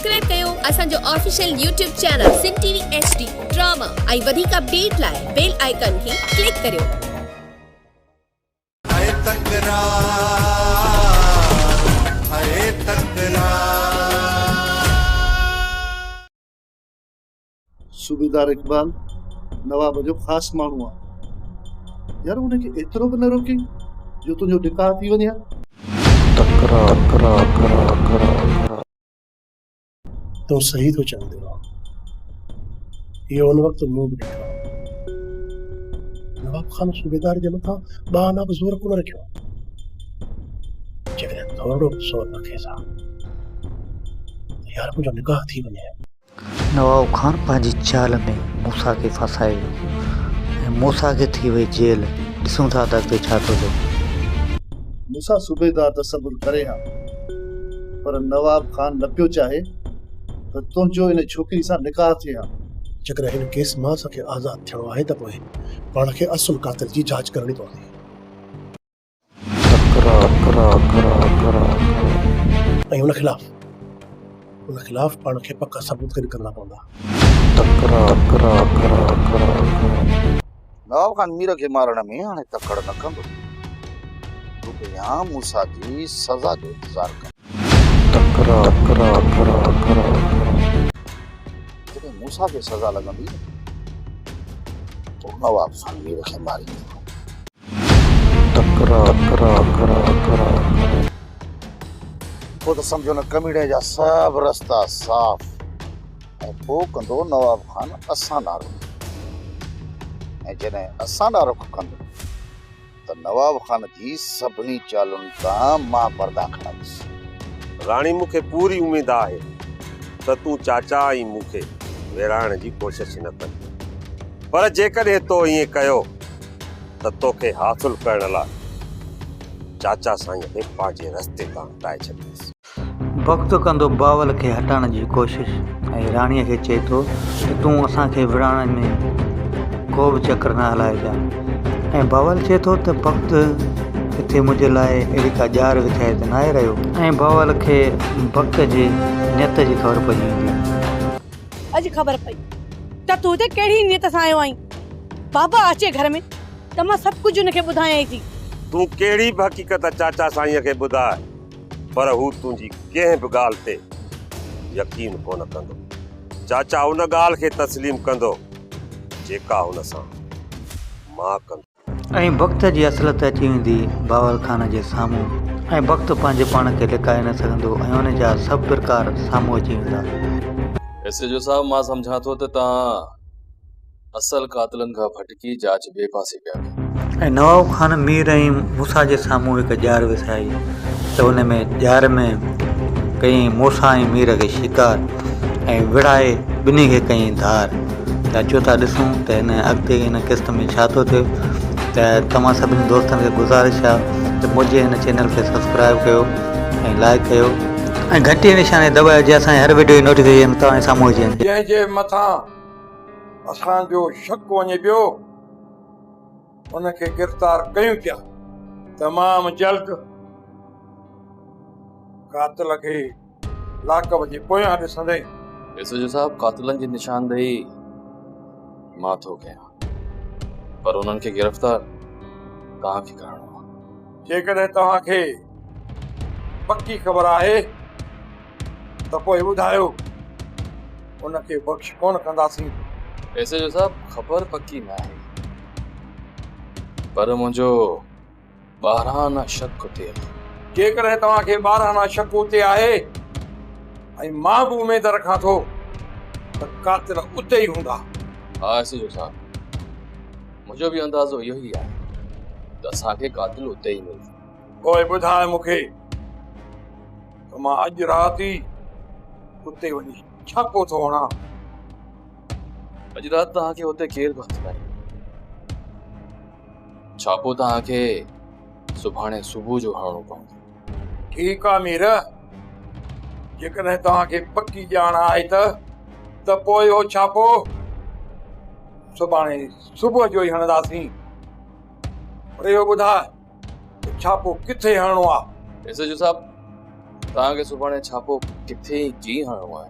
Subscribe ڪيو اسان جو official YouTube channel Sindh T V H D drama ۽ وڌيڪ اپڊيٽ لاء بيل آئيڪن کي ڪلڪ ڪريو. ٿئي تڪرار ٿئي تڪرار. صوبيدار اقبال نواب جو خاص ماڻهو آهي. يار ان کي ايترو به نه روڪين جو تنهنجو نڪاح ٿي وڃي ها. تون صحيح ٿو چوين دلوان. اهو ان وقت مون به ڏٺو آهي. نواب خان صوبيدار جي مٿان ٻانهه لاء به زور ڪونه رکيو. جيڪڏهن ٿورڙو به زور رکيس ها ته يار منهنجو نڪاح ٿي وڃي ها. نواب خان پنهنجي چال ۾ موسيٰ کي ڦاسائي ويو ۽ موسيٰ کي ٿي وئي جيل، ڏسون ٿا ته اڳتي ڇا ٿو ٿئي. موسيٰ صوبيدار ته صبر ڪري ها پر نواب خان نه پيو چاهي ته تنهنجو ان ڇوڪري سان نڪاح ٿئي ها. جيڪڏهن هن ڪيس مان اسان کي آزاد ٿيڻو آهي ته پوء پاڻ کي اصل قاتل جي جاچ ڪرڻي پوندي. ۽ ان خلاف ان خلاف پاڻ کي پڪا ثبوت گڏ ڪرڻا پوندا. نواب خان مير کي مارڻ ۾ هاڻي تڪڙ نه ڪندو. هو ته يا موسيٰ جي سزا جو انتظار ڪندو. جڏهن موسيٰ کي سزا لڳندي ته هو نواب خان مير کي ماريندو. پوء ته سمجهو نه ڪميڻي جا سڀ رستا صاف ۽ پوء ڪندو نواب خان اسان ڏانهن رخ ۽ جڏهن اسان ڏانهن رخ ڪندو ته نواب خان جي سڀني چالن تان مان پردا کڻندس. راڻي مون کي پوري اميد آهي ته تون چاچا ۽ مون کي ويڙهائڻ جي ڪوشش نه ڪندين پر جيڪڏهن تو ائين ڪيو ته توکي حاصل ڪرڻ لاء چاچا سائينء کي پنهنجي رستي تان هٽائي ڇڏيس. بغض ڪندو بائول کي هٽائڻ جي ڪوشش ۽ راڻيء کي چئي ٿو ته تون اسان کي وڙهائڻ ۾ ڪو به چڪر نه هلائجانء ۽ بائول چئي ٿو ته بغض ڪٿي منهنجي لاء اهڙي ڪا ڄار وڇائي ته ناهي رهيو. ۽ بائول کي بغض جي نيت جي خبر پئجي ويندي آهي. اڄ خبر پئي ته تون هتي ڪهڙي نيت سان آيو آهين. بابا اچي گهر ۾ ته مان سڀ ڪجهه هن کي ٻڌايائين ٿي. تون ڪهڙي به حقيقت چاچا سائينء کي ٻڌاء پر هو تنهنجي ڪنهن به ڳالهه تي يقين ڪونه ڪندو. چاچا ان ڳالهه کي تسليم ڪندو جيڪا هن سان مان ڪندو. ائين بخت جي اصلت اچي ويندي باور خان جي سامهون ۽ بخت پنهنجي پاڻ کي لڪائي نه سگهندو ۽ ان جا سڀ پرڪار سامهون اچي ويندا. ايس ايڇ او صاحب مان سمجهان ٿو ته توهان اصل قاتلن کان ڀٽڪي جاچ ٻئي پاسي پيا ڪيو. ۽ نواب خان مير ۽ موسيٰ جي سامهون هڪ ڄار وسائي ته ان ۾ ڄار ۾ ڪيئي موسيٰ ۽ مير کي شڪار. ۽ وڙهائي ٻنهي کي ڪيائين ڌار. ته اچو ٿا ڏسون ته هن اڳتي هن قسط ۾ ڇا ٿو ٿئي ته توهان سڀني دوستن کي گذارش آ ته منهنجي هن چينل کي سبسڪرائيب ڪيو ۽ لائيڪ ڪيو ۽ گهنٽي جي نشاني دٻايو جيئن اسان جي هر وڊيو جي نوٽيفڪيشن توهان جي سامهون اچي وڃي. جنهن جي مٿان اسان جو شڪ وڃي پيو ان کي گرفتار ڪيون پيا. تمام جلد قاتل کي. لاڪب جي پويان ڏسندئي. ايس ايڇ او صاحب قاتلن جي نشاندهي مان ٿو ڪيان پر انهن کي گرفتار توهان کي ڪرڻو آهي. جيڪڏهن توهان کي پڪي خبر آهي ته پوء ٻڌايو ان کي بخش ڪونه ڪنداسين. ايس ايڇ او صاحب خبر پڪي ناهي پر منهنجو ٻاراهانا شڪ تي آهي. جيڪڏهن توهان کي ٻاراهانا شڪ اتي آهي ۽ مان به اميد رکان ٿو ته قاتل اتي ئي هوندا. ها ايس ايڇ او صاحب، منهنجو به اندازو اهو ئي آهي ته اسان کي قاتل اتي ئي ملندو. پوء ٻڌاء مون کي ته مان اڄ رات ئي اتي وڃي ڇاپو ٿو هڻان. اڄ رات توهان کي اتي ڪير به هٿ ناهي. ڇاپو توهان کي سڀاڻي صبح جو هڻڻو پوندو. ٺيڪ آ مير، جيڪڏهن توهان کي پڪي ڄاڻ آهي ته، ته پوء اهو ڇاپو سڀاڻي صبح جو ئي هڻنداسين. پر اهو ٻڌاء ته ڇاپو ڪٿي هڻڻو آ؟ ايس ايڇ او صاحب، توهان کي سڀاڻي ڇاپو ڪٿي ۽ ڪيئن هڻڻو آهي؟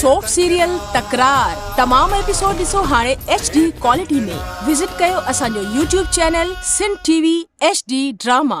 سوپ سيريل تڪرار تمام ايپيسوڊ ڏسو هاڻي ايڇ ڊي ڪوالٽي ۾ وزٽ ڪيو اسان جو YouTube channel Sindh T V H D drama.